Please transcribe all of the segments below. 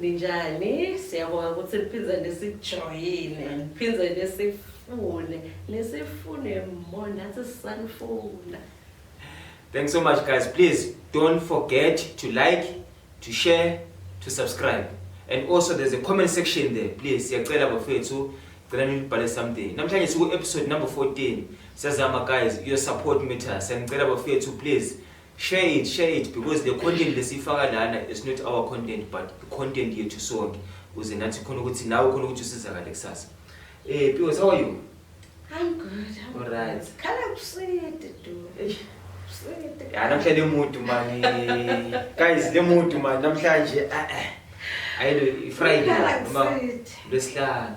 Ninjani? Siyabonga ukuthi niphinde nisijoyine, niphinde nisifune, nisifune more nathi sisanifuna. Thanks so much guys. Please don't forget to like, to share, to subscribe. And also there's a comment section there. Please siyacela bafethu cela nilibhale something. Namhlanje siku episode number 14. Siyazama guys, your support matters. Siyacela bafethu please share it share it because the content lesifaka lana is not our content but content yethu sonke kuze nathi khona ukuthi nawe khona ukuthi usizakale kusasa eh Pios how are you I'm good I'm all right khala kuside do ya namhlanje lemudu mani guys lemudu mani namhlanje eh ah, eh ah. ayilo ifriday noma lwesihlanu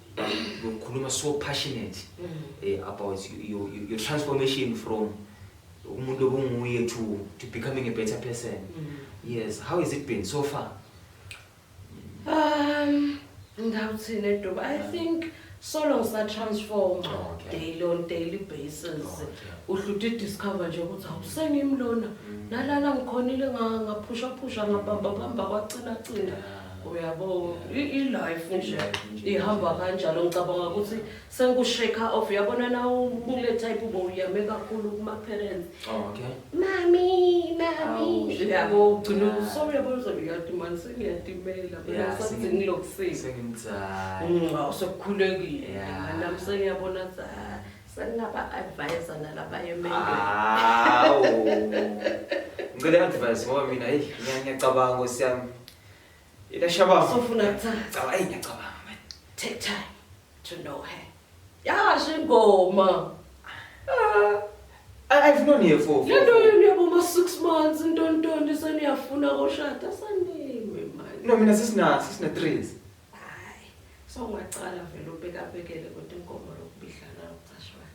ukhuluma so passionate mm. eh, about your, your, your transformation from umuntu obunguye to, to becoming a better person mm. yes how has it been so far um ngawuthini edoba i think so long sa transform oh, okay. daily on daily basis oh, okay. uhluthe discover nje ukuthi awusengimlona mm. nalala ngikhonile ngaphusha phusha ngabamba bamba kwacina cina yeah. uyabo i- i-life nje ihamba kanjalo ngicabanga ukuthi sengu-shake off uyabona na ubule type ube uyame kakhulu kuma-parents Okay. mami mami Awu, shame. yabo ugcina Yeah. so uyabo uzobe uyadumani sengiyatimela Yeah, mina sengi- sengilokisile Sengimdala. Mm, awu sekukhulekile Yeah. nami sengiyabona ukuthi ah, Sengaba advisor nalaba yemele. Hawu. Ngicela advice ngoba mina hey ngiyacabanga nkosi yami. Ila shaba. Sofuna kuthanda. Caba hey ngiyacabanga man. Take time to know her. Yasho ingoma. Ah. I've known her for. Le nto yenu yaboma 6 months ntontonto seniyafuna koshada sanime manje. No mina sisina sisina 3. Ay so ungaqala vele ubekabekele kodwa inkomo lokubidlana lokucashwana.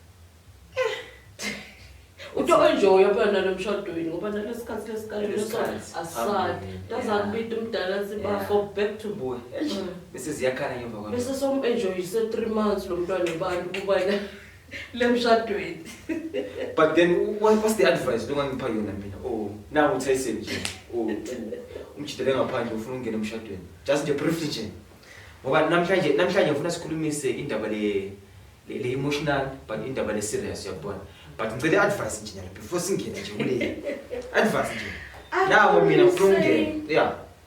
Uto enjoy yabona lomshadweni ngoba nalesikhathi lesikhathi lesikhathi asisadi. Tazakubita umdala sibafo back to boy. Bese ziyakhala ngemva kwami. Bese som enjoy se 3 months lomntwana ubani kubana. lemshadweni but then what, what's the advice longangipha yona mina oh nawu uthayise nje oh umjidele ngaphandle ufuna ukungena emshadweni just nje briefly nje ngoba namhlanje namhlanje ngifuna sikhulumise indaba le le emotional but indaba le serious uyabona but ngicela i-advice nje nyalo before singene nje kule advice nje nawo mina ngifuna ukungena yeah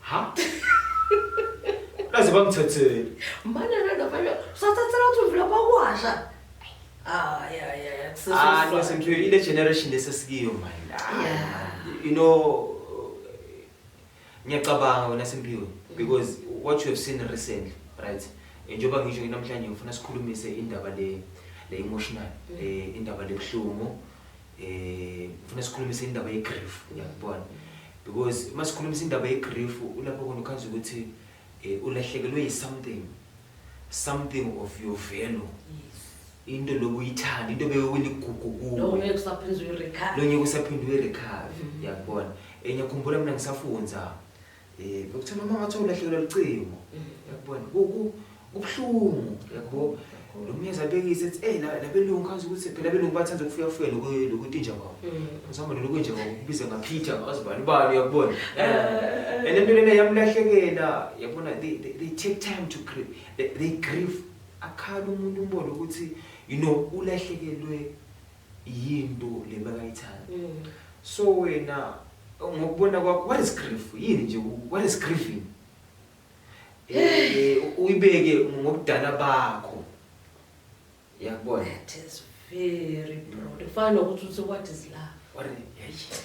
Ha? Kaze bamthethele. Mana nana bayo. Sathathela ukuthi uvula bakwasha. Ah yeah yeah yeah. Kusasa. Ah no sengiyo ile generation lesesikiyo manje. Yeah. You know ngiyacabanga wena Simpiwe because what you have seen recently right? Njengoba ngisho namhlanje ngifuna sikhulumise indaba le le emotional eh indaba lebuhlungu eh ngifuna sikhulumise indaba ye grief uyakubona because uma sikhulumisa indaba ye grief ulapho khona ukhaza ukuthi eh, ulahlekelwe yi something something of your value into lokuyithanda into bewuyiligugu kuwe lo ngeke usaphinde uyirecover lo ngeke usaphinde uyirecover mm-hmm. uyakubona enye khumbula mina ngisafundza Eh ukuthi noma ngathi ulahlekelwa licingo. Yakubona kubuhlungu yakho. Lo myezi abekise ethi hey labelungu kazi ukuthi phela belungu bathanda ukufika fika lokho lokuthi nje kwawo. Ngizama lokho nje kwawo kubiza ngaphitha ngazibani bani yakubona. Eh. And into lena yamlahlekela yabona they they take time to grieve. They grieve akhala umuntu umbona ukuthi you know ulahlekelwe yinto le makayithanda mm. so wena ngokubona kwakho what is grief yini nje what is grieving eh uyibeke ngokudala bakho yakubona that is very broad ufana nokuthi uthi what is love what is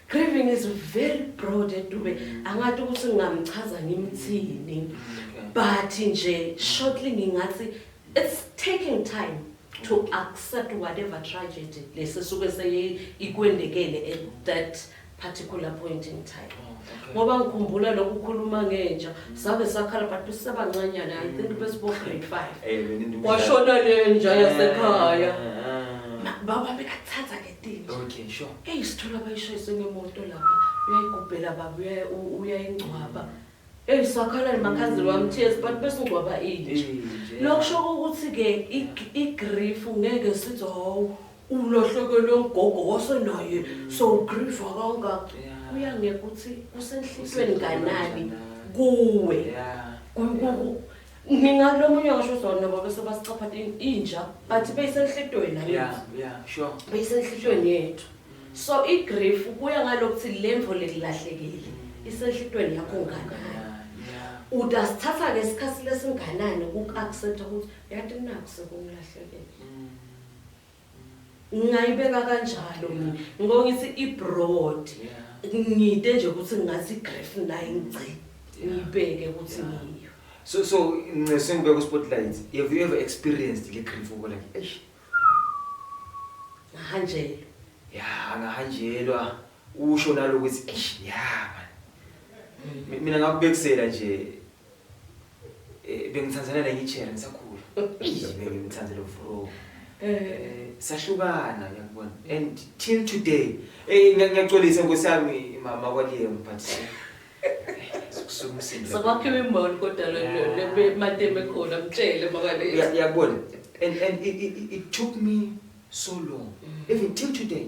grieving is very broad edube mm. angathi ukuthi ngingamchaza ngimthini mm, but nje shortly ngingathi it's taking time to accept whatever tragedy lesi suke seyikwendekele at that particular point in time ngoba ngikhumbula lokhu khuluma ngenja sabe sakhala but sisebancanyana i think besibo grade 5 kwashona lenja yasekhaya baba bekathatha ngetini okay sure eyisithola bayishayise ngemoto lapha uyayigubhela baba uyayingcwaba Ey sakhalani makhazini mm. wami tears but bese ungcwaba inje. Lokusho ukuthi ke igrief ngeke sithi hawu ulahlekelwe ugogo wasenaye mm. so grief akangaka. Kuya ngeke ukuthi kusenhlizweni kanani kuwe. Mina lo munye ngisho uzona nabo bese basicapha inja but beyisenhlitweni la yeah yethu. yeah sure Beyisenhlitweni yethu. So i grief kuya ngalokuthi lemvo lelilahlekile isenhlitweni yakho ngana. yeah yeah Udasithatha ke isikhathi lesinganani uku accept ukuthi yathi naku sekungilahlekile. mm. ngingayibeka kanjalo mina ngoba ngithi i-broad ngide nje ukuthi ngathi i-graph naye ngigcine ngiyibeke ukuthi ngiyo so so nxese ngibeka u-spotlight have you ever experienced le grief ubo like eish ngahanjelwa ya ngahanjelwa usho nalo ukuthi eish ya man mina ngakubekisela nje Eh, bengithandana nenye ijela ngisakhula bengimthandela ufro eh, sahlukana ngiyakubona and till today eh, ngiyacolisa nkosi yami mama kwaliyem but sokwakhiwa imboni kodwa lemateme khona mtshele makuyakubona and, and it, it, it took me so long mm. even till today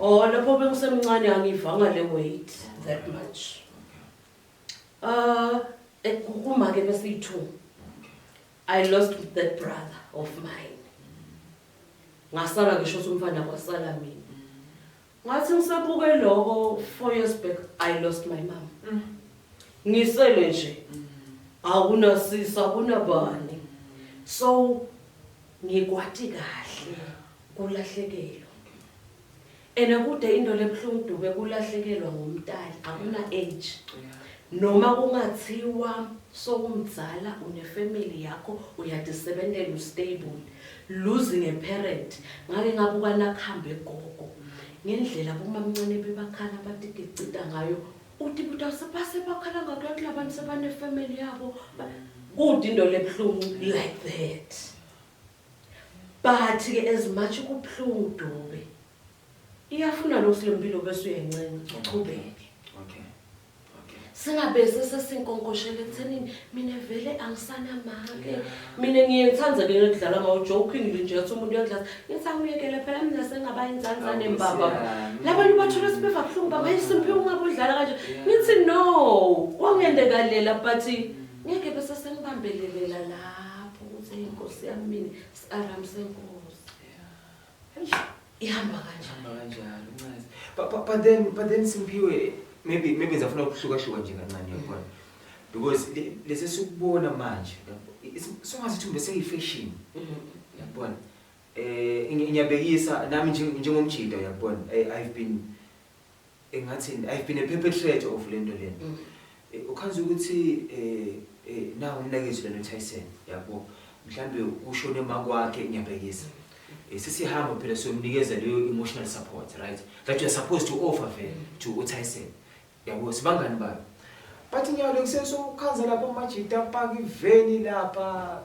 Oh lapho bengisemncane angivanga le weight that much. Uh ekukuma ke besithu. I lost with that brother of mine. Ngasala ngisho ukuthi umfana kwasala mina. Ngathi ngisabuke lokho 4 years back I lost my mom. Mm. Ngisele nje. Mm. Akunasisa kunabani. So ngikwati kahle. Yeah. Kulahlekelwa. Ena kude into lebuhlungu dube kulahlekelwa ngomtali akuna age. Noma kungathiwa sowumzala une family yakho uyadisebentela ustable. Losing a parent ngake ngabuka nakhambe gogo. Ngendlela bomamncane bebakhala batigicita ngayo uthi buta sebase bakhala ngakho kulabantu sebane family yabo. Kude into lebuhlungu like that. But ke as much kubuhlungu Dube. Iyafuna lokho lempilo bese uyencenga uchubeke. Okay. Okay. Singabe sesesinkonkoshela ekuthenini mina vele angisana make. Mina ngiyengithanda ke ngidlala ngawo joking nje nje ukuthi umuntu uyadlala. Ngisakuyekele phela mina sengaba inzanza nembaba. Labantu bathula sibeva kuhlungu baba isimpi ungabudlala kanje. Ngithi no, kwangende kalela but Ngeke bese sengibambelelela lapho ukuthi inkosi yami mina siaram senkosi. Ihamba kanjani? Ihamba kanjalo ncazi. But, but, but then but then Simphiwe maybe maybe ngizafuna ukuhluka hluka nje kancane yabona. Because lesi sikubona manje songathi thumbe seyifashion. Mm-hmm. Yabona. Eh ngiyabekisa nami njengomjida yabona. Eh, I've been engathini i've been a perpetrator of le nto lena mm. eh, ukhazi ukuthi eh, eh, na umnakezi lena utyson yabo mhlawumbe ushone makwakhe ngiyabhekisa eh, sesihamba phela siyomnikeza leyo emotional support right that you're supposed to offer vele to utyson yabo sibangani bayo but ngiyawule kusesokukhanza lapho umajita apaka iveni lapha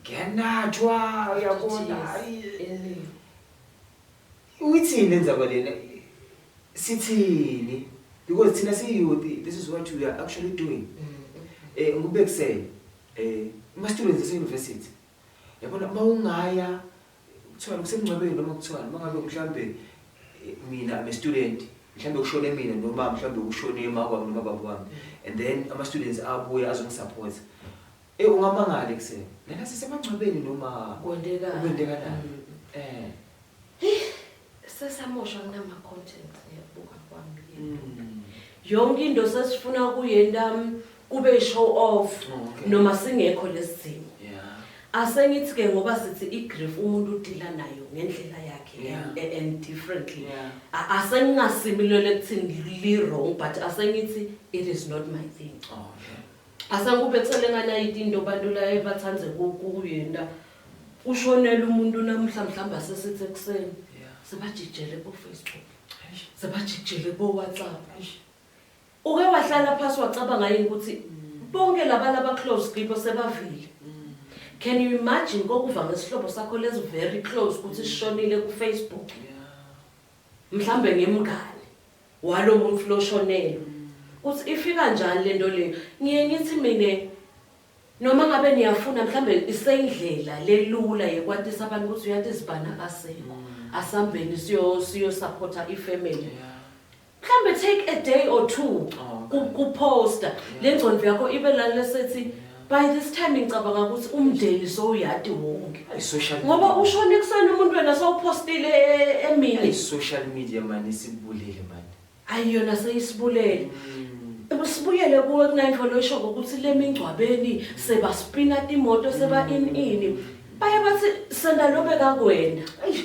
Ngiyanatshwa uyabona hayi. Uyithini lenza kwalena? Sithini? Because thina siyiyouth, this is what we are actually doing. Eh ngikubekisele. Eh uma students ese university. Yabona uma ungaya kuthiwa kusemngcwabeni noma kuthiwa uma ngabe mhlambe eh, mina I'm a student mhlambe kushone mina noma mhlambe kushone mawami noma baba wami and then ama students abuya azongisupport Eh ungamangala ekuseni. Lena sisemangcwabeni noma kwendeka kwendeka la. Mm. Eh. Hey, sesamosha kunama content yabuka kwami. Mm. Yonke into sesifuna kuyenda um, kube show off oh, okay. noma singekho lesimo. Yeah. Asengithi ke ngoba sithi igrief umuntu udila nayo ngendlela yakhe yeah. and, and differently. Yeah. Asengingasimilele kuthini li wrong but asengithi it is not my thing. Oh, okay. Asakube kuselengana yiti into bantu la ebathande ku- kuyenta. Kushonela umuntu namuhla mhlawumbe asesithi ekuseni. Sebajijele ko-Facebook. Sebajijele ko-WhatsApp. Uke wahlala phasi wacabanga yini ukuthi bonke laba laba close kibo sebavile. Can you imagine kokuva ngesihlobo sakho lesi very close ukuthi sishonile ku-Facebook? Mhlambe ngemngane. Walo muntfu loshonelwe. Kutsi ifika njani lento leyo. Ngiye ngitsi mine noma ngabe niyafuna mhlambe iseyindlela lelula yekwatisa abantu ukuthi uyathi sibhana akasekho. Asambeni siyo siyo supporter i family. Mhlambe take a day or two ku ku poster lengcondvo yakho ibe la lesethi by this time ngicabanga ukuthi umndeni sowuyadi wonke Ay, social ngoba media. ushona ekuseni umuntu wena sowuphostile e- Ay, emini social media mani isibulele mani ayi yona seyisibulele Mm. sibuyele kuwe kunayinto loyisho ngokuthi le mingcwabeni sebaspina imoto seba in ini baye bathi senda lobe kakwena Eish,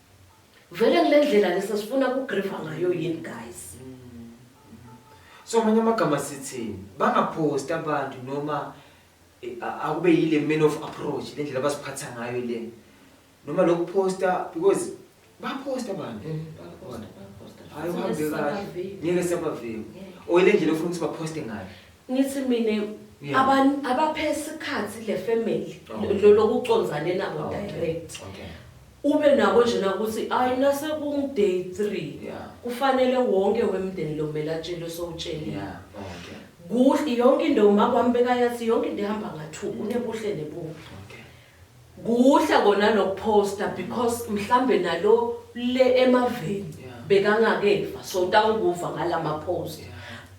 Vele kule ndlela lesa sifuna kugriva ngayo yini guys? So manje amagama sithini? Bangapost abantu noma eh, a- akube yile man of approach le ndlela abasiphatha ngayo le. Noma lokuposta because baposta abantu. Hayi uhambe kahle. Ngeke sabaveki. Oyile ndlela ofuna ukuthi baposte ngayo. Ngithi mina abantu abaphe isikhathi le family oh. lokuconzane nabo oh, direct. Okay. Ube nako nje ukuthi ayi nase kung day 3 kufanele wonke wemndeni lo mele atshele sowutshele. Yeah. Okay. Kuhle yonke into uma kwambeka yathi yonke into ihamba ngathuku nebuhle nebubi. Kuhle kona noku poster because mhlambe nalo le emaveni Yeah. bekangakeva so utawukuva ngalama post Yeah.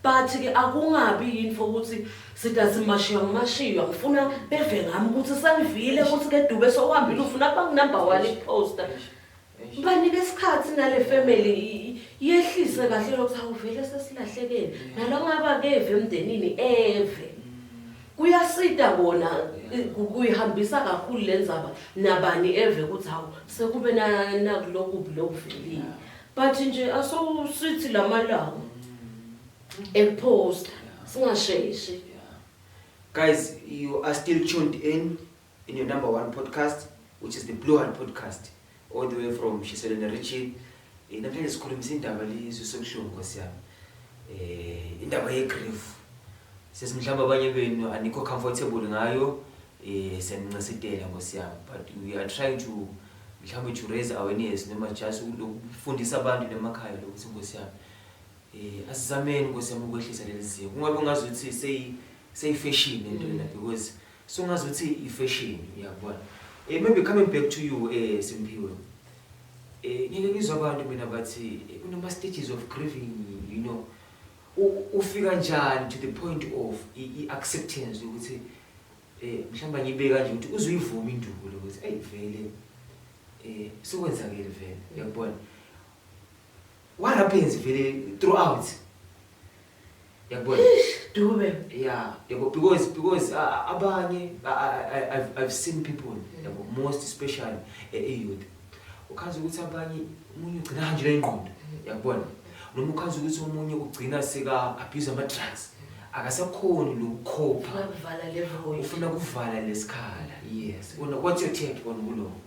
but ke akungabi yini for ukuthi sida simashiywa ngimashiywa ngifuna beve ngami ukuthi sengivile ukuthi ke dube sohambile ufuna kuba ngunumber one iposter Banike isikhathi nale family yehlise kahle lokho awuvele sesilahlekene nalo ngaba keve emndenini eve kuyasida kona kuyihambisa kakhulu lenzaba nabani eve ukuthi hawu sekube nakulokubi lokuvelile but nje asosithi lamalanga ekuposta singasheshi guys you are still tuned in in your number one podcast which is the Blue Heart podcast all the way from Shiselene region eh, namhlanje sikhulumisa indaba lizwe sobuhlungu nkosi yami eh indaba ye grief sisi mhlawumbe abanye benu anikho comfortable ngayo eh senincesitela nkosi yami but we are trying to mhlawumbe to raise awareness noma just ukufundisa abantu nemakhaya lokuthi nkosi yami eh asizameni nkosi yami ukwehlisa leli zinga kungabe ngazuthi seyi seyi fashion into lena because mm. Sungazuthi i fashion uyabona. Eh maybe coming back to you eh Simphiwe. Eh ngeke ngizwa abantu mina bathi eh, kunama stages of grieving you know. Ufika njani to the point of i acceptance ukuthi eh mhlamba ngibeka nje ukuthi uzuyivuma induku lo ukuthi hey vele eh sekwenzakile vele uyabona what happens vele throughout Yabona? Dube. Yeah, yabo because because uh, abanye I, I, I've, I've seen people mm. yabo most especially e eh, youth. Ukhaza ukuthi abanye umuntu ugcina kanje lengqondo. Mm. Yabona? Noma ukhaza ukuthi umuntu ugcina sika abuse ama drugs. Akasakhoni lokukhopha. Ufuna kuvala le void. Ufuna kuvala lesikhala. Yes. What's your take on kuloko?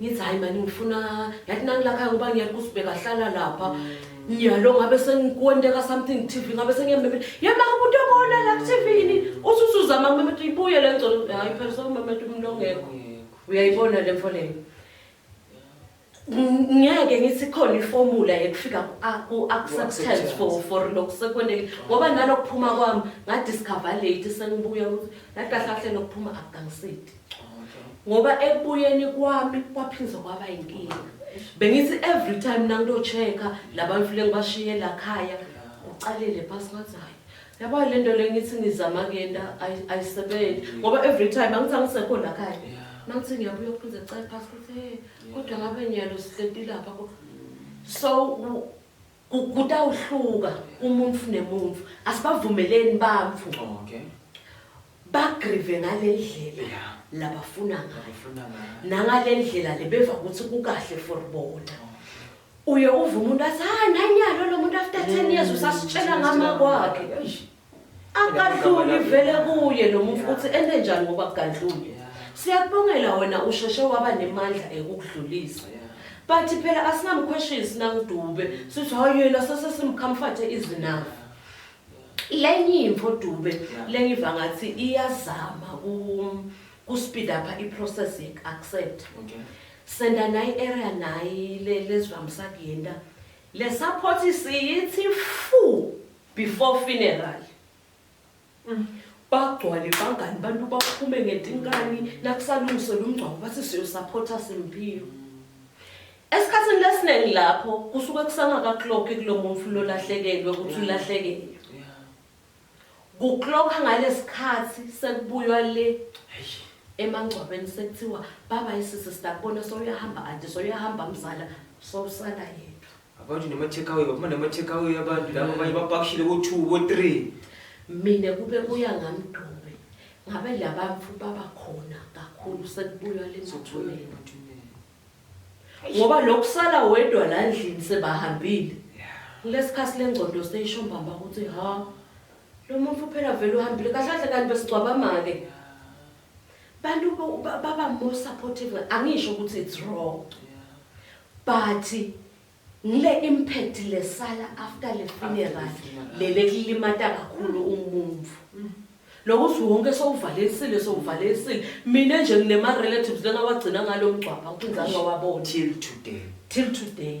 ngithi hayi mani ngifuna yathi nangilakhaya ngoba ngiyala ukuthi bekahlala lapha nyalo ngabe sengikonteka something tv ngabe sengiyamemela yema umuntu obona la kuthivini uthi usuzama kumemeta ibuye le ngcono hayi phela sokumemeta umuntu ongekho uyayibona le mfo leyo ngeke ngithi khona iformula yekufika ku-acceptance for for lokhu sekwendeke ngoba nalokuphuma kwami ngadiscover late sengibuya ukuthi nakahlahle lokuphuma akukangisidi ngoba ekubuyeni kwami kwaphinde kwaba inkinga bengithi every time nangiyocheka labantu file ngibashiye la khaya ucalele phasi ngathi hayi yabo le nto le ngithi ngizama kuyenta ayisebenzi ngoba every time angithi angisekho la khaya mangithi ngiyabuya kuphinde cale phasi kuthi kodwa ngabe niyalo sihleti lapha so Ku, kutawuhluka umuntfu nemuntfu. Asibavumeleni bantfu Okay. bagrive ngalendlela Yeah. labafuna ngayo Ngifuna ngayo. nangalendlela lebeva kutsi kukahle for bona. Uye uve umuntu athi, hayi nanyalo lomuntu after 10 years usasitshela ngama kwakhe. Eish. Akadluli vele kuye lo muntu ukuthi ende njani ngoba kugadlule. Siyakubongela wena usheshe waba nemandla ekukudlulisa. But phela asinamquestions nangidube sithi hayi yena sesesimcomforte izinafu. Lenye imfo dube lenye iva ngathi iyazama ku ku speed up i process ye accept. Okay. Senda nayi area nayi le lezivamsa kuyenda. Le support siyithi fu. Before funeral. Mm. Bagcwale bangani bantu baphume ngetinkani nakusalungisela umngcwabo bathi siyosaphotha Simphiwe. Esikhathini lesiningi lapho kusuke kusangaka clock kulomuntu umfulo lahlekelwe ukuthi ulahlekelwe. kuklokha ngalesikhathi sekubuywa le emangcwabeni sekuthiwa baba isisi sitakubona soyahamba anti soyahamba mzala sowusala yena Abantu nema-takeaway, baphuma nema-takeaway abantu laba abanye bapakishile ko-two ko-three. mina kube kuya ngamdube ngabe labamfu baba khona kakhulu sekubuywa lemathuneni ngoba lokusala wedwa la ndlini sebahambile kulesikhathi lengcondo seyisho mbamba ukuthi ha lo muntu phela vele uhambile kahle kahle kanti besigcwabama-ke Bantu baba more supportive angisho ukuthi it's wrong. But ngile impact lesala after le funeral lele kulimata kakhulu umuntu. Mm. Lokuthi wonke sowuvalesile sowuvalesile mina nje nginema relatives lengawagcina ngalomgcwaba ukunzanga wabona till today. Till today.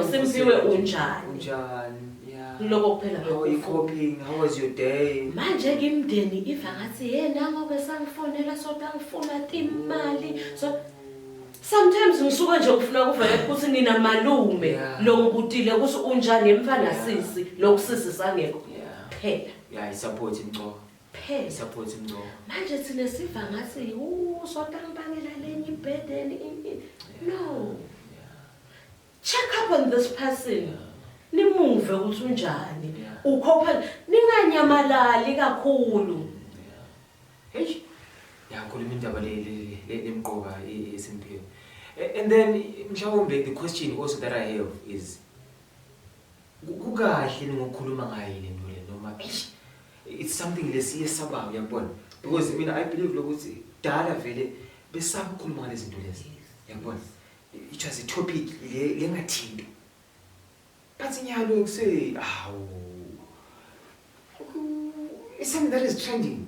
Usimpiwe unjani? Unjani? Yeah. Kuloko kuphela How are you bekufuna. coping? How was your day? Manje ke imndeni iva ngathi yena ngobe sangifonela soda ngifuna timali. So sometimes ngisuka nje ngifuna kuvela ukuthi nina malume Yeah. lo ngibutile ukuthi unjani emfana Yeah. sisi lo kusisi sangekho. Yeah. Phela. Yeah, i-support imgcoka. Phela. I-support imgcoka. Manje thina siva ngathi u soda ngibangela lenye ibhedeni. No. Check up on this person. Nimuve ukuthi unjani. Ukhopha ninganyamalali kakhulu. Hey. Yakhuluma indaba le lemqoka esimphile. And then mhlawumbe the question also that I have is kukahle ngokukhuluma ngayo le nto le noma eish it's something lesiye sabayo yabona because mina I believe lokuthi dala vele besakukhuluma ngalezinto lezi yabona It was a topic le lengathinto. But nyalo ukuse awu. It's something that is trending.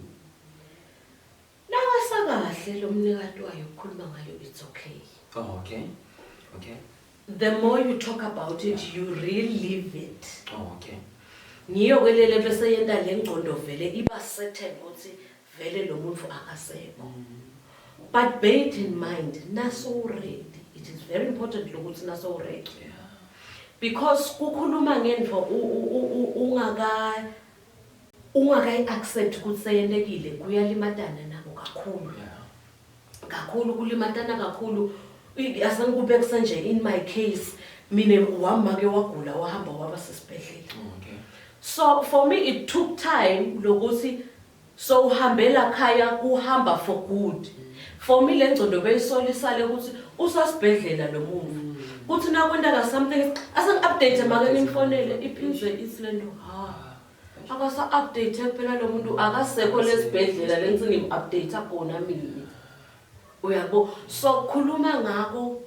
Nawasa kahle lo mnikati wayo ukukhuluma ngayo it's okay. Oh okay. Okay. The more you talk about it, yeah. you relive it. Oh okay. Ngiyo ke lele bese yenta lengqondo vele iba certain ukuthi vele lo muntu akasekho but bear it in mind nasowuredi it is very important lokuthi nasowuredi because kukhuluma ngento ungaka ungakayi-accept ukuthi seyelekile kuyalimatana nabo kakhulu kakhulu kulimatana kakhulu asangikube kusanje in my case mina wamake wagula wahamba waba sesibhedlela okay so for me it took time lokuthi so uhambela khaya kuhamba for good for me le ngcondo beyisolisale ukuthi usasibhedlela lo muntu kuthi nakwentaka something asengi-update make nimfonele iphindwe isilendo ha Akasa update phela lo muntu akasekho lesibhedlela lensini im update kona mina. Uyabo so khuluma ngako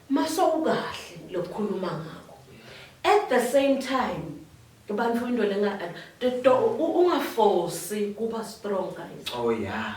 maso ukahle lokukhuluma ngako. At the same time abantu into lenga to ungaforce kuba strong guys. Oh yeah.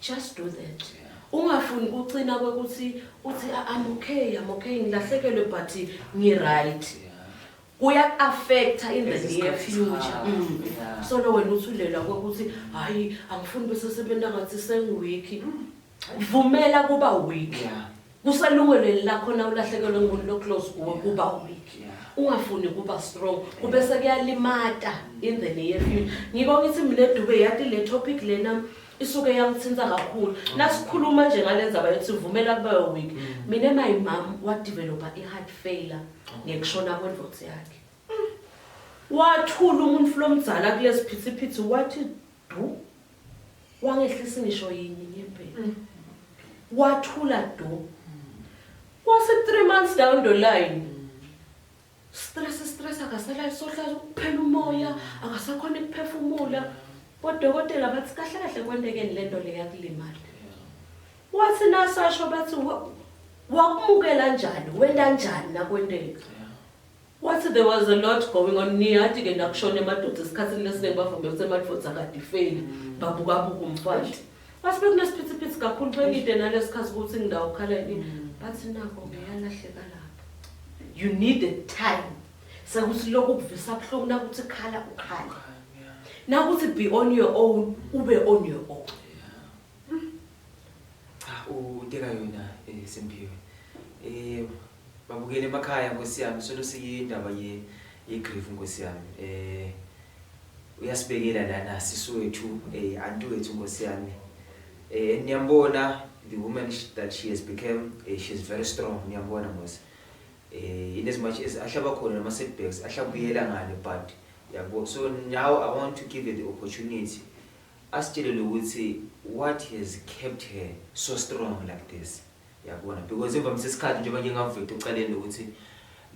just do that ungafuni kucina kwekuthi uthi i'm okay i'm okay ngilahlekelwe but ngiright kuya affecta in the near future mm. so lo wena uthulelwa kwekuthi hayi angifuni bese sebenza ngathi sengiweak vumela kuba weak yeah. kuselungelweni lakho na ulahlekelwe ngumuntu loclose kuwe kuba weak ungafuni kuba strong kube sekuyalimata in the near future ngiko ngithi mina dube yati le topic lena isuke yangithinta kakhulu nasikhuluma nje ngale ndzaba yokuthi vumela kube weak mm. mina my mom wadevelopa i-heart failure ngekushona kwendvodza yakhe wathula umuntu flomdzala kulesiphithiphithi wathi Du. Wangehlisi ngisho yini ngempela. Mm. Wathula do. Kwase 3 months down the line. Stress stress akasala isohlaza ukuphela umoya, akasakhona ukuphefumula. Bodokotela bathi kahle kahle kwentekeni lento le yakulimala. Wathi nasasho bathi wakumukela njani, wenda njani nakwenteka. Wathi there was a lot going on niyati ke nakushona emadoda esikhathini lesiningi bavumbe ukuthi emadvodza akadifeli babukabuka umfati bathi bekunesiphithiphithi kakhulu bengide nalesikhathi ukuthi ngindawo kukhala yini bathi nako ngiyalahleka lapho you need a time sekuthi lokhu kuvisa buhlungu nakuthi khala ukhala nakuthi be on your own ube on your own cha uteka yona eh, semphiwe eh Babukele emakhaya nkosi yami solo siyindaba ye yegrief nkosi yami eh uyasibekela lana sisi wethu eh anti wethu nkosi yami eh niyambona the woman that she has become eh, she is very strong niyambona nkosi eh in as much as ahlaba khona nama setbacks ahlabuyela ngale but yabo so now i want to give her the opportunity asitshelele ukuthi what has kept her so strong like this Yabona because emva mse isikhathi njengoba nje ngaveta uceleni ukuthi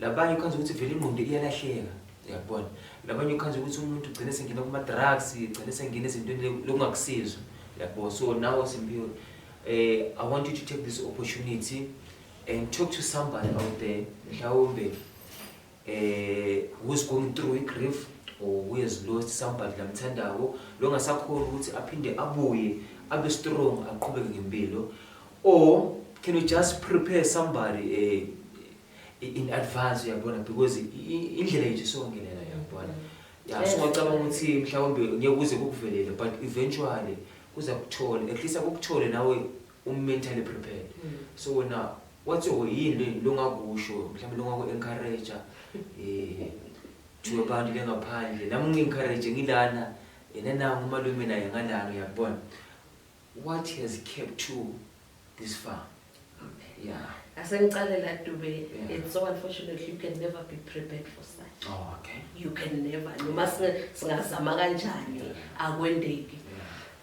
labanye ukhanza ukuthi vele ingqondo iyalahleka. Yabona. Labanye ukhanza ukuthi umuntu ugcine sengena kuma drugs, ugcine sengena ezintweni lokungakusiza. Yabo so now Simpiwe eh I want you to take this opportunity and talk to somebody out there mhlawumbe eh, who is going through i-grief or who has lost somebody lamthandako lo ngasakhona ukuthi aphinde abuye abe strong aqhubeke ngempilo or can you just prepare somebody eh, in advance uyabona because indlela yethu songelela uyabona ya so ngicabanga ukuthi mhlawumbe ngeke kuze kukuvelele but eventually kuza kuthole at least akukuthole nawe u mentally prepared so wena wathi oh yini longakusho mhlawumbe longaku encourage eh to abantu lengaphandle nami ngi encourage ngilana yena nangu umalume naye ngalana uyabona what has kept you this far yeah asengicalela dube yeah. it's so unfortunately you can never be prepared for such oh, okay you can never noma singazama kanjani akwendeki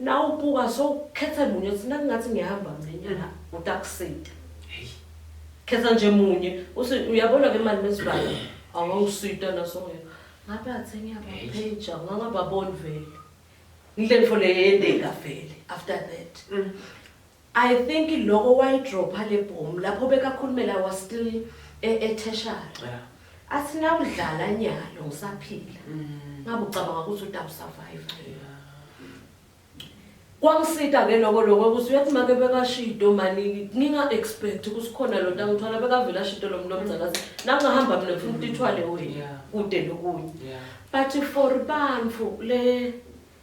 Nawe ubuka so khetha munye uthi nakungathi ngiyahamba ngenyanga utakusita. Hey. Khetha nje munye uthi uyabona ke manje mesibala awungisita naso ngeke. Ngabe athe ngiyabapheja ngangababoni vele. Ngile mfo le yendeka vele after that. Mm. I think loko wayidropha le boom lapho bekakhulumela was still e- etertiary Yeah. athi nawudlala nyalo ngisaphila ngabe ucabanga ukuthi utawusurvive kwangisita ke loko loko ukuthi uyathi make bekashido mani nginga-expect ukuthi khona lo ntamthwala bekavele ashido lo mntu omzakazi nangingahamba mina ngifuna ukuthi ithwale wena Yeah. kude nokunye Yeah. but for bantu le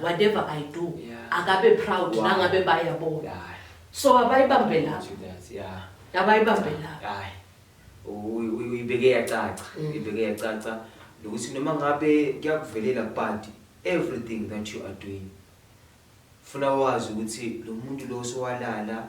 whatever i do yeah. akabe proud wow. nangabe bayabona yeah. so abayibambelapho yeah. abayibambelapho yeah. uyibeke yacaca mm. uyibeke yacaca nokuthi noma ngabe kuyakuvelela but everything that you are doing funa wazi ukuthi lo muntu lo sowalala